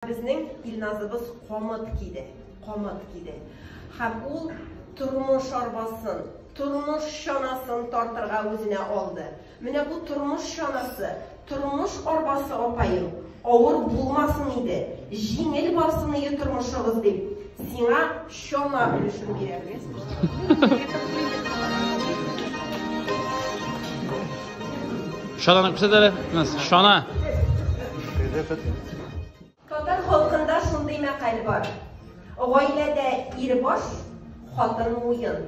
Безнең Илназыбыз камыт киде, камыт киде. Һәм ул тормыш арбасын, тормыш чанасын тартырга үзенә алды. Менә бу тормыш чанасы, тормыш арбасы апаем, авыр булмасын иде, җиңел барсын иде тормышыгыз дип, сиңа Чама өлешен бирәбез. Шананы күрсәт әле. Шана. Татар халкында шундый мәкаль бар. Гаиләдә ир баш, хатын муен.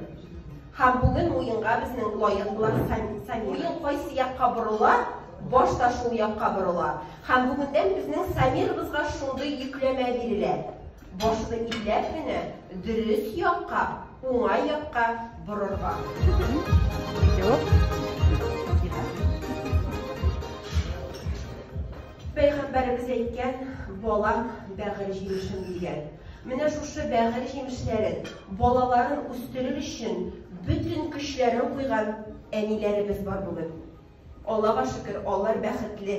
Һәм бүген муенга безнең лаек булган Сами. Муен кайсы якка борыла, баш та шул якка борыла. Һәм бүгендән безнең Самирыбызга шундый йөкләмә бирелә. Башны иләп кенә дөрес якка, уңай якка борырга. Пәйгамбәребез әйткән, балам бәгырь җимешем дигән. Менә шушы бәгырь җимешләрен, балаларын үстерер өчен бөтен көчләрен куйган әниләребез бар бүген. Аллага шөкер, алар бәхетле,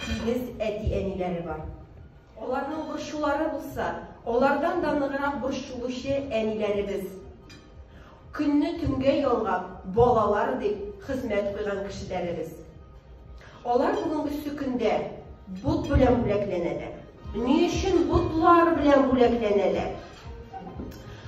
тигез әти-әниләре бар. Аларның борчулары булса, алардан да ныграк борчылучы әниләребез. Көнне төнгә ялгап, балалар дип хезмәт куйган кешеләребез. Алар бүгенге сөкендә бот белән бүләкләнәләр. Ни өчен ботлар белән бүләкләнәләр?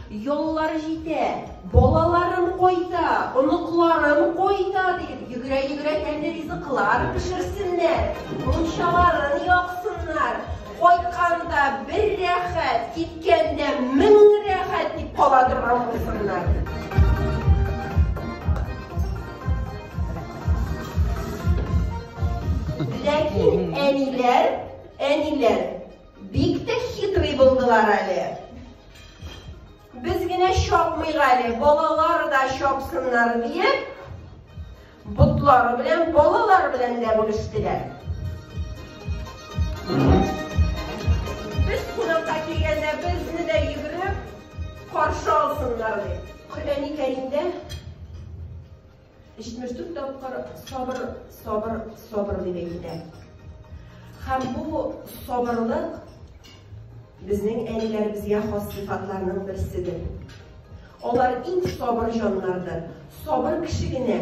Яллар җитә, балаларым кайта, оныкларым кайта дип, йөгерә-йөгерә тәмле ризыклар пешерсеннәр, мунчаларын япсыннар. Кайтканда бер рәхәт, киткәндә мең рәхәт дип кала торган булсыннар. Ләкин әниләр Әниләр бик тә хитрый булдылар әле. Без генә чапмыйк әле, балалар да чапсыннар диеп, ботлары белән, балалар белән дә бүлештеләр. Без кунакка килгәндә безне дә йөгереп каршы алсыннар дип. Коръәни Кәримдә 74 тапкыр сабыр, сабыр, сабыр дип әйтелә. Һәм бу сабырлык безнең әниләребезгә хас сыйфатларның берседер. Алар иң сабыр җаннардыр. Сабыр кеше генә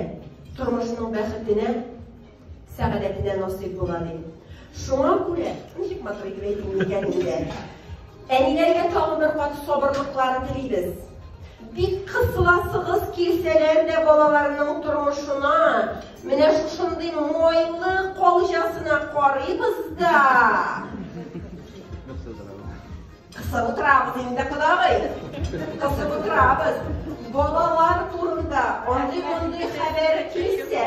тормышның бәхетенә сәгадәтенә насыйп була, ди. Шуңа күрә, ничек матур итеп әйтим микән инде? Әниләргә тагын бер кат сабырлыклар телибез. Бик кысыласыгыз килсәләр дә балаларның тормышына, менә шушындый майлы калҗасына карыйбыз да. Кысып утырабыз инде, кодагый. Кысып утырабыз. Балалар турында андый-мондый хәбәр килсә,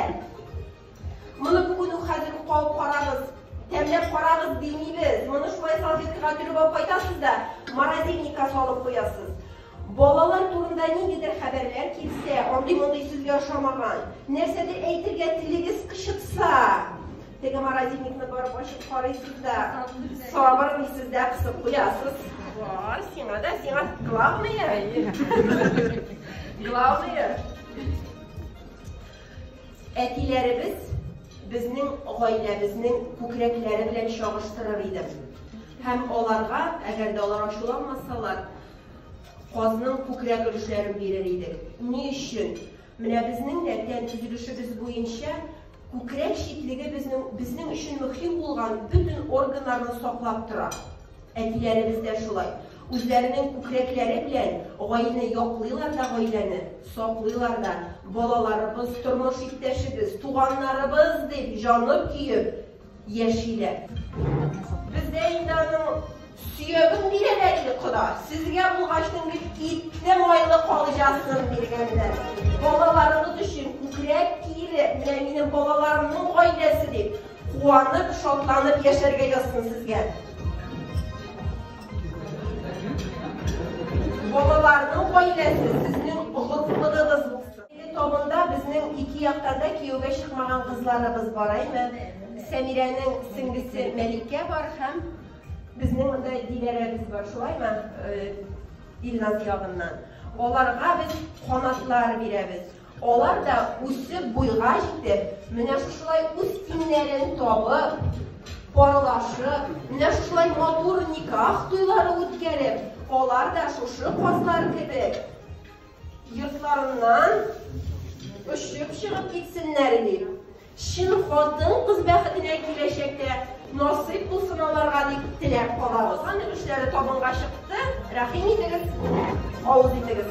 моны бүген үк хәзер үк кабып карагыз, тәмләп карагыз димибез. Моны шулай салфеткага төреп алып кайтасыз да, морозильникка салып куясыз. Балалар турында ниндидер хәбәрләр килсә, андый-мондый сүзгә ошамаган, нәрсәдер әйтергә телегез кычытса, Теге морозильникны барып ачып карыйсыз да, сабыр дисез дә кысып куясыз. Вау, сиңа да, сиңа главное. Главное. Әтиләребез безнең гаиләбезнең күкрәкләре белән чагыштырыр иде. Һәм аларга, әгәр дә алар ачуланмасалар, казның күкрәк өлешләрен бирер идек. Ни өчен? Менә безнең дә тән төзелешебез буенча Күкрәк читлеге безнең безнең өчен мөһим булган бөтен органнарны саклап тора. Әтиләребез дә шулай. Үзләренең күкрәкләре белән гаиләне яклыйлар да гаиләне, саклыйлар да. Балаларыбыз, тормыш иптәшебез, туганнарыбыз дип җаны көеп, яшиләр. Бездә инде аның сөяген бирәләр иде кода. Сезгә булгачның бит итне майлы калҗасын биргәннәр. Балаларыгыз өчен күкрәк киеле, менә минем балаларымның гаиләсе дип, куанып, шатланып яшәргә язсын сезгә. Балаларның гаиләсе сезнең горурлыгыгыз Әлеге табында безнең ике яктан да кияүгә чыкмаган кызларыбыз бар, әйме? Сәмирәнең сеңлесе Мәликә бар һәм безнең монда Диләрәбез бар, шулаймы? Илназ ягыннан. Аларга без канатлар бирәбез. Алар да үсеп буйга җитеп, менә шушылай үз тиңнәрен табып, парлашып, менә шушылай матур никах туйлары үткәреп, алар да шушы казлар кебек Йортларыннан очып чыгып китсеннәр дип, чын хатын-кыз бәхетенә киләчәктә насыйп булсын аларга дип теләп калабыз. Аны эшләре табынга чыкты. Рәхим итегез, авыз итегез.